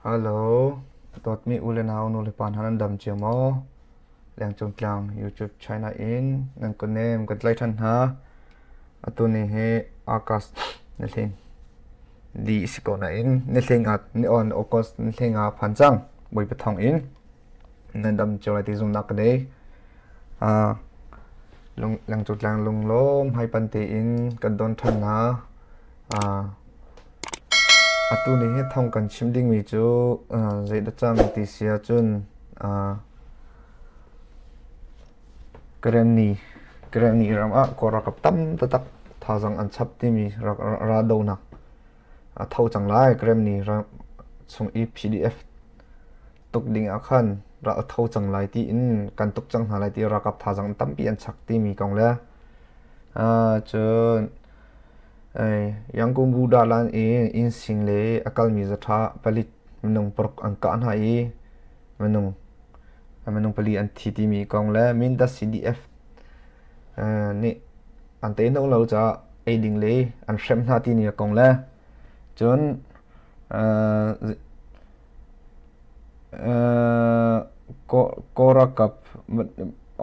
Hello, dawtmi u le nau nulepa hna nan dam cia maw? Lengcung Tlang YouTube channel in nan ka nem kan tlai ṭhan hna. Atu ni hi August ni hling li si ko nain ni hling ah ni on August ni hling ah phan cang bawi pathong in nan dam cio lai ti zumnak ka dei. Ah, lung- Lengcung Tlang lunglawm haipan tein kan don ṭhan hna. Ah, Atu ni hi thawng kan chim dingmi cu zeidah cang ti si ahcun Karen ni ram ah Kawl ralkap tam taktak thazaang an chap timi raldohnak a tho cang lai. Karen ni ram chung i PDF tuk ding ahkhan ral a tho cang lai tiin kan tuk cang hna lai ti ralkap thazaang tampi an chak timi kong le cun Yangon Buddha lan i innsing le a kalmi zaṭha palik minung paruk an kah hna i minung pali an thi timi kong le Mindat CDF nih an teihnawh lo caah ei ding le an hrem hna timi kong le cun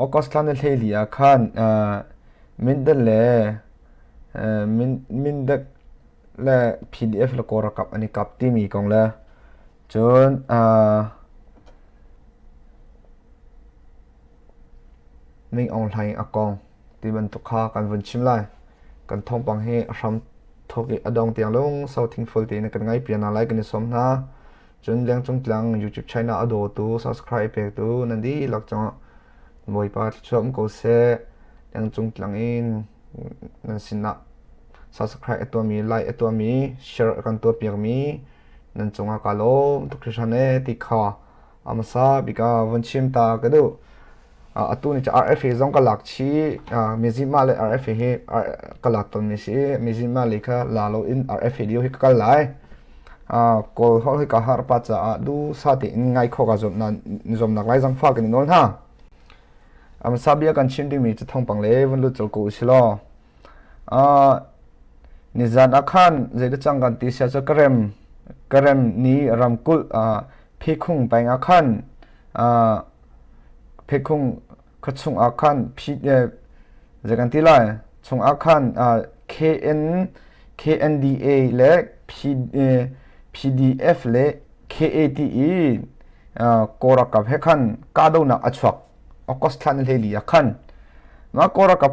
August thla ni hlei li ah khan Mindat le Mindak le PDF le Kawl ralkap an i kap timi kong le cun Ming Aung Hlaing a kong ti bantuk kha kan vun chim lai. Kan thawngpang hi a hram thawk i a dong tiang lungsau thingful tein kan ngai pia hna lai kan i sawm hna. Cun Liangcung Tlang YouTube channel a dawtu, subscribe pektu nan dihlak cungah Bawipa thluachuah um ko seh. Lengcung tlang in nan sinah subscribe a tuahmi, like a tuahmi, share a kan tuahpiakmi nan cungah ka lawm tuk hrishan e ti kha a hmasa bika von chim ta ka duh. Uh, atu ni cha RFA zong ka lak chi uh, mizima le RFA hi uh, ka lak ton mi si mizima le kha la lo in RFA dio hi ka kal lai Kawl holh hi ka harpa caah duhsah tein ngai khawh ka zuamnak laizang fa kan i nawl hna. A hmasa bia kan chim dingmi cu thawngpang le vun lut colh ko u silaw. Nizan ah khan zeidah cang kan ti sia cu Karem Karem ni ramkulh Pheikhung peng ah khan Pheikhung khua chungah khan phi zei kan ti lai chungah khan KN KNDA le PDF le KAT i korakap he khan kahdohnak a chuak August thlan hlei li ah khan mah korakap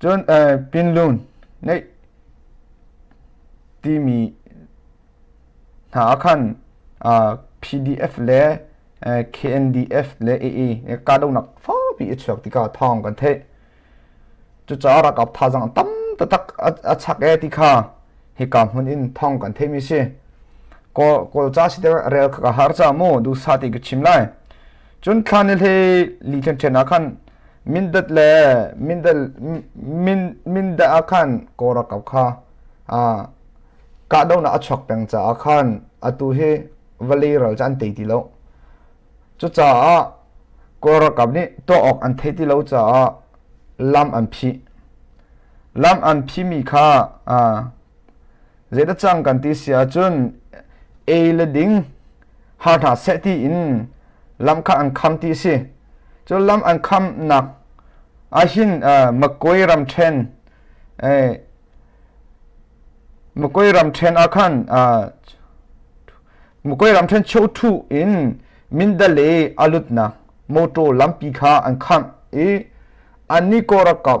Cun pinhlun ngeih timi hna ah khan PDF le KNDF le AA kahdohnak fawpi a chuak tikah thawng kan theih. Cucaah ralkap thazaang a tam taktak a chak e ti kha hika hmun in thawng kan theihmi si. Kawlca si te rel kha ka har ca mu duhsa ti ka chim lai. cun thlan i hle li ṭhen ṭhen ah khan mindat le mindat min mindat ah khan kora kau kha a kahdohnak a chuak peng caah khan atu hi valley ral cu an tei ti lo cucaah kawlralkap nih tuah awk an thei ti lo caah lam an phih lam an phimi kha Zei na cang kan ti sia cun ei le ding har hna seh ti in lam kha an kham ti si. Cun lam an kham nak ahhin Makuai ram ṭhen Makuai ram ṭhen ah khan Makuai ram ṭhen cheu ṭhu in Mindale a lut nak motor lampi kha an khangh i an ni kawrakap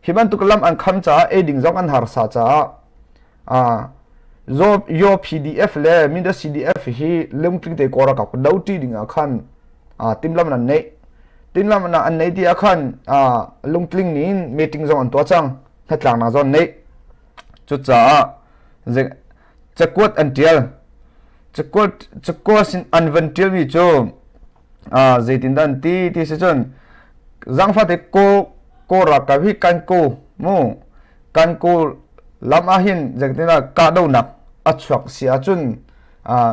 Hi bantuk lam an kham caah eiding zong an harsa caah Yo PDF le Mindat CDF hi lungtling te kora kap do ti ding ah khan timlam nan nei timlam na an nei ti ah khan lungtling nin meeting zong an tua cang hnatlang na zon nei cu caah cakuat an tial cakuat cakuat an van tial mi cu zeitindah an ti ti si cun zangfate ko ko ra ka hi kan ko mu kan ko lam ah hin zeitindah kahdohnak a chuak si ahcun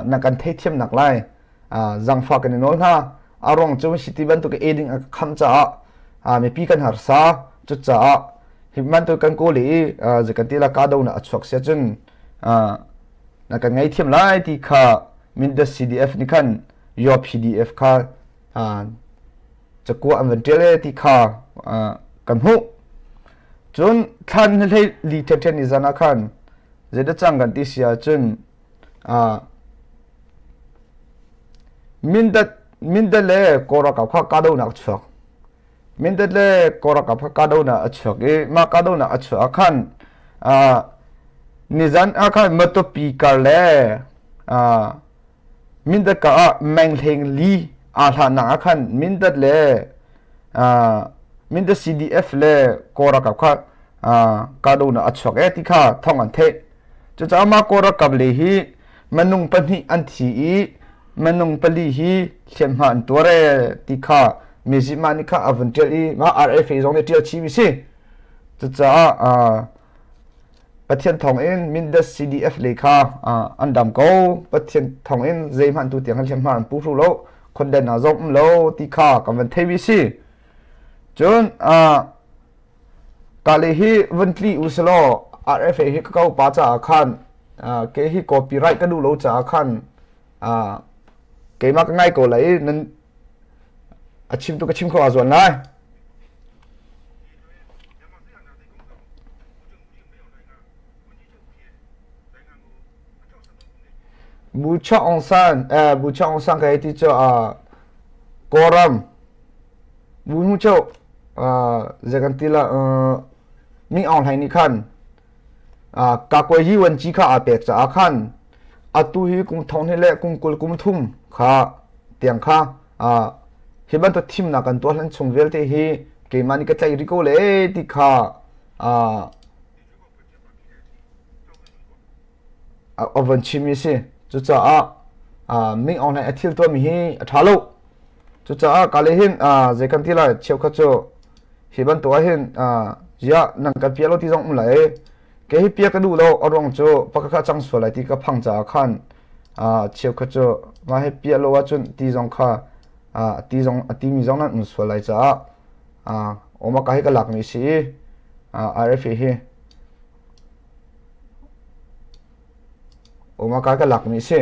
na kan theithiam nak lai zangfa kan i nawl hna a rong cu siti bantuk e ding a kham caah mipi kan harsa cucaah hi bantuk kan ko le i ze kan ti la kahdohnak a chuak si ahcun na kan ngei thiam lai ti kha min das cdf nih khan your PDF kha cakuah an van ṭial e ti kha kan hmuh cun thlan hlei li ṭheṭhen i zan ah khan zeidah cang kan ti si ahcun mindat mindat le kawrakap kha kahdohnak chuak mindat le kawrakap kha kahdohnak a chuak i mah kahdohnak a chuah ah khan nizan ah khan matopi kar le Mindat ka ah menghleng li aa hlannak ah khan Mindat le Mindat CDF le Kawl ralkap kha kahdohnak a chuak ee ti kha thawng an theih. Cucaah mah Kawl ralkap le hi minung pahnih an thi i minung pali hi hliamhma an tuar ee ti kha Myanmar nih kha a vun ṭial i mah RFA zong nih ṭial chih mi si. Cucaah Pathian thawngin Mindat CDF le kha an dam ko Pathian thawngin zeihmanh tu tiang hliamhma an pu hru lo khondan ah zom um lo ti kha kan van thei wi si cun kale hi vun tli u salo RFA hi ka ko pa caah khan ke hi copyright ka duh lo caah khan keimah ka ngai ko lai i nan a chim tu ka chim kho aa zuan lai bu chok ong san eh, bu chok ong san ka ti cho a koram bu mu cho a zekan tila mi ong hlai ni khan kakuai hiwan chi kha aa pek caah khan atu hi kum thong hnih le kum kul kum thum kha tiang kha hi bantuk thimnak kan tuah hlan chung vialte hi keimah nih ka tlaih rih ko le ti kha a van chimmi a si cucaah Ming Aung Hlaing a thil tuahmi hi a ṭha lo Cucaah kale hin zei kan ti lai cheukhat cu hi bantuk ah hin ziah nang kan pia lo ti zong um lai ke hi pia ka duh lo a ruang cu pakakha cang sual lai ti ka phang caah khan cheukhat cu mah hi pia lo ahcun ti zong kha ti zong a timi zong nan um sual lai caah oma ka hi ka lakmi si i RFA hi oma ka ka lakmi si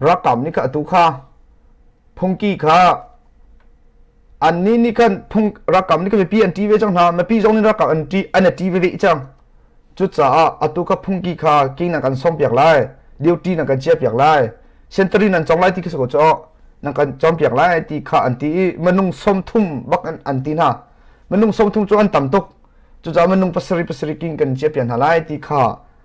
Ralkap nih khan atu kha phungki kha annih nih khan ralkap nih khan mipi an ṭi ve cang hna mipi zong nih ralkap an ṭi veve cang cucaah atu kha phungki kha kingnak kan sawmpiak lai duty nan kan chiahpiak lai sentari nan cong lai ti kha cu nan kan cawmpiak lai ti kha an ti i minung som thum bak an ti hna minung som thum cu an tam tuk cucaah minung pasarih pasarih king kan chiahpiak hna lai ti kha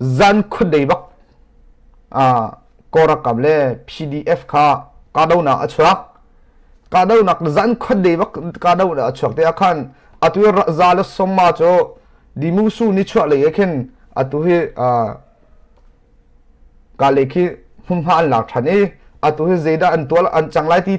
zan khun dei bak korakam le PDF kha kahdohnak a chuak kahdohnak zan khun dei bak kahdohnak a chuak te akhan atu za le somma chu dimusu ni chuah lei ekhin atu hi ka le khi hmunhma an lak than i atu hi zeidah an tual an chang lai ti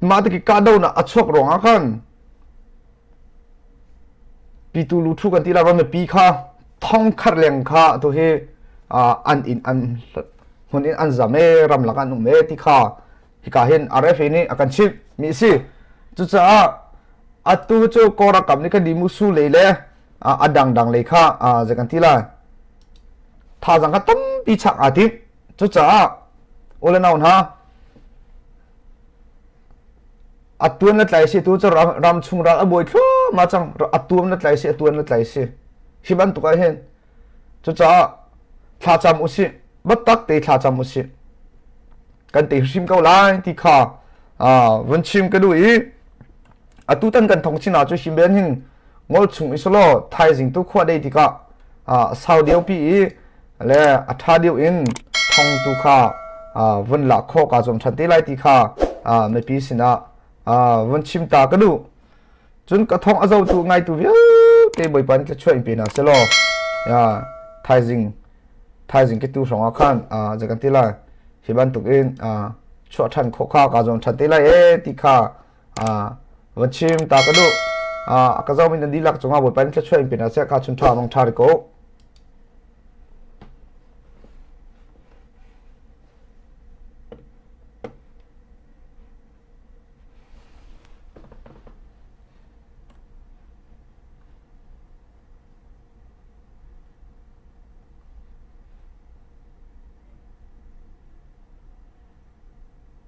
mate ki kahdohnak a chuak ruangah khan pitu lu thu kan ti la ron pi kha thong khar leng kha to hi an in an hun in an zam e ram lak an um e ti kha hika hin RFA ni akan chip mi si cucaah atu chu kora kam ni kan di mu su le le adang dang le kha je kan ti la tha zang ka tom pi chak atit cucaah ole naun ha a tuan na tlai si tu cu ram chung ral a buai thluahmah cang a tuam na tlai si a tuan na tlai si hi bantuk ah hin cucaah thlacam usih battak te thlacam usih kan te hrim ko lai ti kha vun chim ka duh i atu tan kan thong china chu himben hin ngol chung isolo thaizing tu khwa dei tika sau deu pi i le atha deu in thong tu kha vun la kho ka zom than te lai ti kha me pi sina vun chim ta ka du chun ka thong azo tu ngai tu viu te boi pan ke chuai pe na selo ya thaizing thaizing ke tu songa khan jagan ti lai hiban tuk in chua than kho kha ka zom than te lai e ti kha va chim ta ka duh a ka zomin an dihlak cungah bawipa in thluachuah in pe hna seh kha chun ṭha mong ṭha ri ko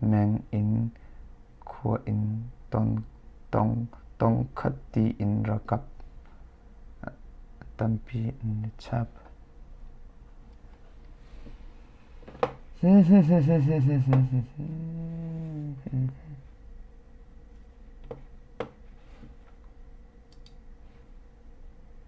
meng in khua in tongkhat tiin rakap tampi an i chap.